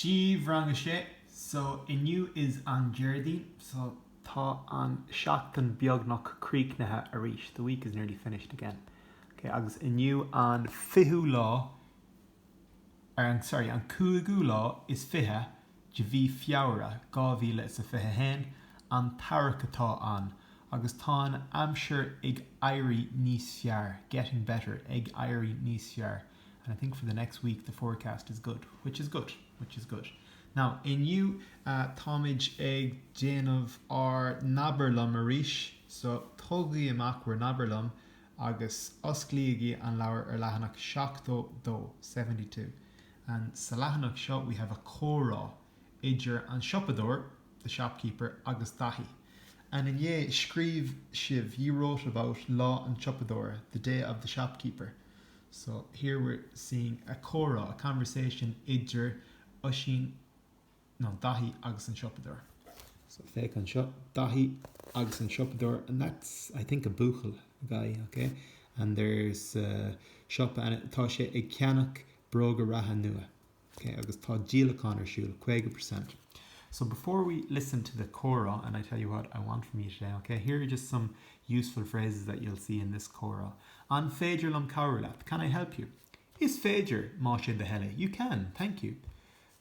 Dia daoibh, Rang 6, So inniu is an Déardaoin, so tá an seachtain beagnach críochnaithe arís, the week is nearly finished again. Ok, agus inniu an fichiú lá, or an, sorry, an cúigiú lá is fiche de mhí Feabhra, dhá mhíle is a fiche a haon, an t-earrach atá ann, agus tá an aimsir ag éirí níos fearr, getting better, ag éirí níos fearr. and I think for the next week the forecast is good, which is good, which is good. Now, inniu táimid ag déanamh ár nAbair Liom arís, so tógaigí amach bhur nAbair Liom agus osclaígí an leabhar ar leathanach seachtó a dó, seventy two. And sa leathanach seo we have a comhrá idir an siopadóir, the shopkeeper, agus Daithí. And inné scríobh sibh, you wrote about lá an siopadóir, the day of the shopkeeper. So, here we're seeing a comhrá, a conversation, idir Oisín, no, Daithí agus an siopadóir. So, féach anseo, Daithí agus an siopadóir and that's, I think, a buachaill, a guy, ok? And there's a siopa and tá sé ag ceannach bróga reatha nua. Ok, agus tá díolachán ar siúl, caoga per cent. So before we listen to the comhrá and I tell you what I want from you today, ok, here are just some useful phrases that you'll see in this comhrá, An féidir liom cabhrú leat? Can I help you? Is féidir, más é do thoil é. You can, thank you.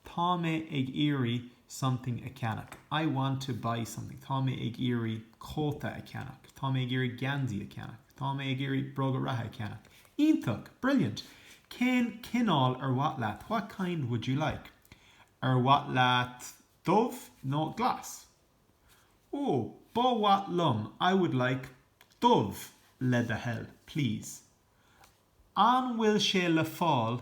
Tá mé ag iarraidh something a cheannach. I want to buy something. Tá mé ag iarraidh cóta a cheannach. Tá mé ag iarraidh geansaí a cheannach. Tá mé ag iarraidh bróga reatha a cheannach. Iontach! Brilliant! Cén cineál ar mhaith leat? What kind would you like? Ar mhaith leat dubh nó glas? Oh, ba mhaith liom I would like dubh, le do thoil, please. An bhfuil sé le fáil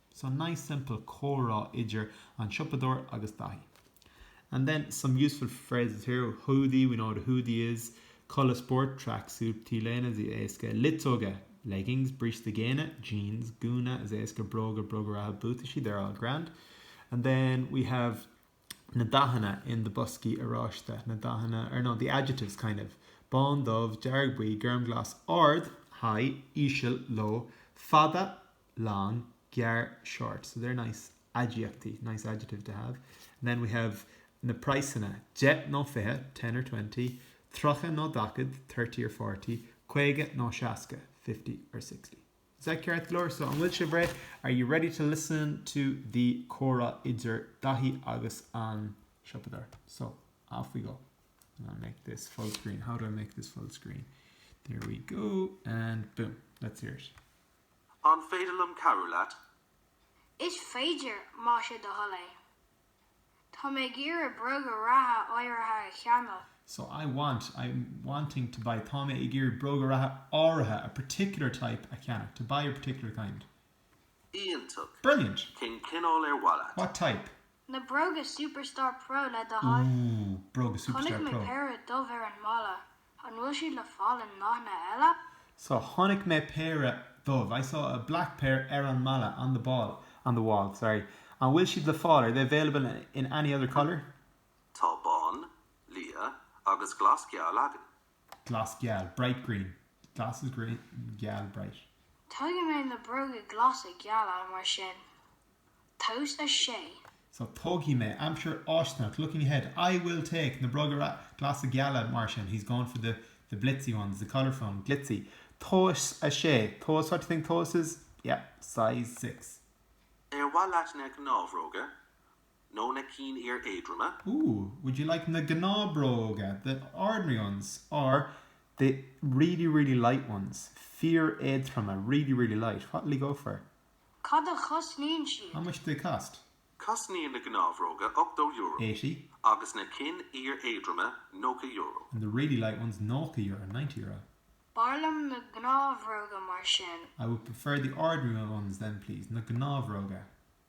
So nice simple comhrá idir an siopadóir agus Daithí And then some useful phrases here, húdaí, we know what a hoodie is, culaith spóirt, track suit, t-léine, éasca, luiteoga, leggings, bríste géine, jeans, gúna, éasca, bróga, bróga reatha, buataisí, they're all grand And then we have na dathanna in the boscaí oráiste, na dathanna, or no, the adjectives kind of, bán, dubh, dearg, buí, gorm, glas, ard, high, íseal, low, fada, long, gearr short. So they're nice aidiachtaí, nice adjective to have. And then we have na praghsanna, deich nó fiche, ten or twenty, tríocha nó daichead, thirty or forty, caoga nó seasca, fifty or sixty. Is that ceart go leor? So an bhfuil sibh reidh? Are you ready to listen to the comhrá idir Daithí agus an siopadóir? So off we go. And I'll make this full screen. How do I make this full screen? There we go. And boom. Let's hear it. An féidir liom cabhrú leat? Is féidir, más é do thoil é. Tá mé ag iarraidh bróga reatha áirithe a cheannach. So I want, I'm, wanting to buy Tá mé ag iarraidh bróga reatha áirithe a particular type a cheannach to buy a particular kind. Iontach! Brilliant! Cén cineál ar mhaith leat? What type? Na bróga Superstar Pro le do thoil. Ooh, bróga Superstar Pro. Chonaic mé péire dubh ar an mballa, an bhfuil siad le fáil in ndathanna eile? So, chonaic mé péire dubh, I saw a black pair ar an mballa, on the ball, on the wall, sorry. An bhfuil siad le fáil, are they available in any other colour? Tá bán, liath agus glas geal againn. glas geal, bright green, glas is green, geal bright. Tógfaidh mé na bróga glasa geala mar sin. Tomhas 6. So Tógfaidh mé, aimsir fháistineach, looking ahead, I will take, na bróga glasa geala mar sin, he's going for the the blitzy ones, the colourful ones, glitzy. Tomhas 6. Tomhas, what do you think Tomhas is? Yeah, size six. Ar mhaith leat na gnáthbhróga? nó na cinn fhíoréadroma. Ooh, would you like na gnáthbhróga, the ordinary ones, or the really, really light ones, fíoréadroma, really, really light, what will you go for? Cad a chosnaíonn siad? How much do they cost? Cosnaíonn na gnáthbhróga ochtó euro. Eighty. agus na cinn fhíoréadroma nócha euro. And the really light ones nócha euro, ninety euro. B'fhearr liom na gnáthbhróga mar sin. I would prefer the ordinary ones then please, na gnáthbhróga.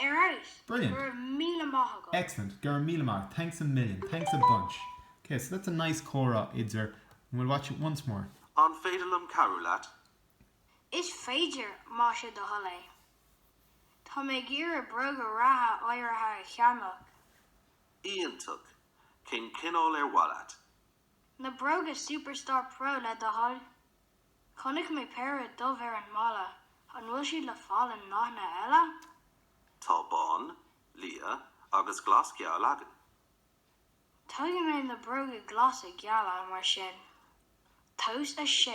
Ar ais! Brilliant! Go raibh míle maith agat! Excellent! Go raibh míle maith! Thanks a million! Thanks a bunch! Okay, so that's a nice comhrá idir and we'll watch it once more. An féidir liom cabhrú leat? Is féidir, más é do thoil é. Tá mé ag iarraidh bróga reatha áirithe a cheannach. Iontach! Cén cineál ar mhaith leat? Na bróga Superstar Pro, le do thoil. Chonaic mé péire dubh ar an mballa, an bhfuil siad le fáil i ndathanna eile? Tá bán, liath agus glas geal againn. Tógfaidh mé na bróga glasa geala mar sin. Tomhas 6.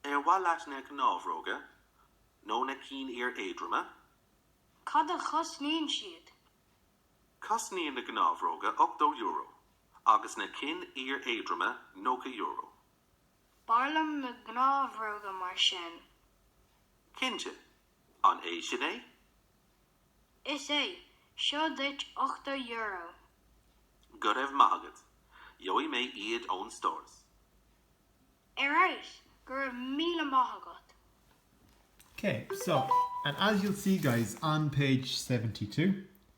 Ar mhaith leat na gnáthbhróga nó na cinn fhíor éadroma? Cad a chosnaíonn siad? Cosnaíonn na gnáthbhróga €80 agus na cinn fhíoréadroma €90. B'fhearr liom na gnáthbhróga mar sin. Cinnte. An é sin é? Is é. Seo duit ochtó euro. Go raibh maith agat. Gheobhaidh mé iad ón stóras. Ar ais! Go raibh míle maith agat. Okay, so, and as you'll see guys, on page seventy-two,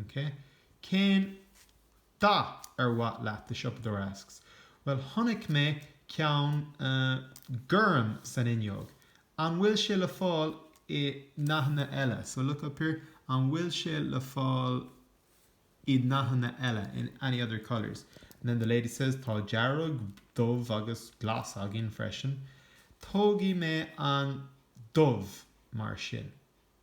OK. Cén dath ar mhaith leat? the siopadóir asks. Bhuel, chonaic mé ceann, eh, gorm san fhuinneog. An bhfuil sé le fáil i ndathanna eile? So, look up here, An bhfuil sé le fáil i ndathanna eile? In any other colours? And then the lady says, Tá dearg, dubh agus glas againn freisin. Tógfaidh mé an dubh, mar sin.